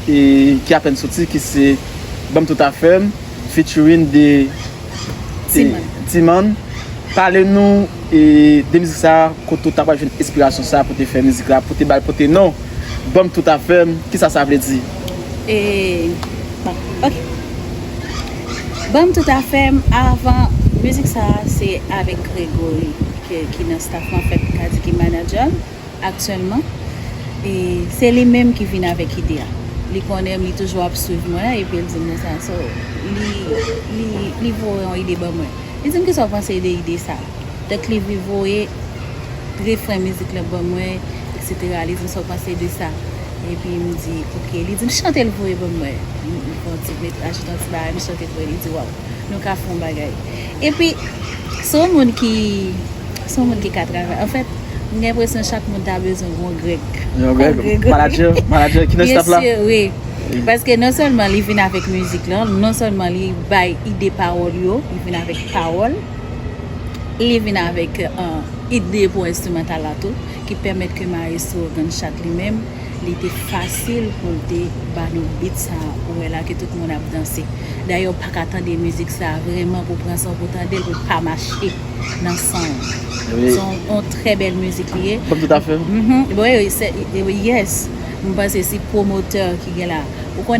ki apèn soti ki se Banm tout afèm featuring de Timann pale nou de mizik sa kote ou ta pral jwenn enspirasyon sa pou te fè mizik la pou te bal pou te non Banm tout afèm kisa sa vle di? Bon ok Banm tout afèm avan mizik sa se avèk Gregory ki nan staff lan an fèt m ka di ki manager m. aktyèlman e se li menm ki vin avèk ide a. Li konnen m, li toujou ap swiv mwen epi l di m konsa. So, li li li voye yon ide ban mwen. Li di m kisa w panse de ide sa a? Donk li vi voye refren mizik lan ban mwen eksetera. Li di m sa w panse de sa? Epi m di ok. Li di m chante l voye ban mwen. M pran ti met ajoute yon ti bagay m chante pou li. Li di waw, nou ka fè yon bagay. Epi, se yon moun ki, se yon moun ki ka travay. Anfèt, m gen enpresyon chak moun ta bezwen yon Greg. Yon Greg? Manadjè? Manadjè ki nan staff la? Byen sur, wi. Paske non sèlman li vin avèk mizik lan, non sèlman li bay ide pawòl yo, li vin avèk pawòl, li vin avèk ide pou enstrimantal la tou, ki pèmèt ke Maestro Gunshot li menm, li te fasil pou l te ba nou beat sa ou wè la ke tout moun ap danse. Dayè ou paka tande mizik sa vrèman pou pran san w pou tande l pou l pa mache nan san w. Se yon trè bèl mizik li ye. Banm tout afè w. Yes, m panse si pwomotè ki gen la. Ou konnen.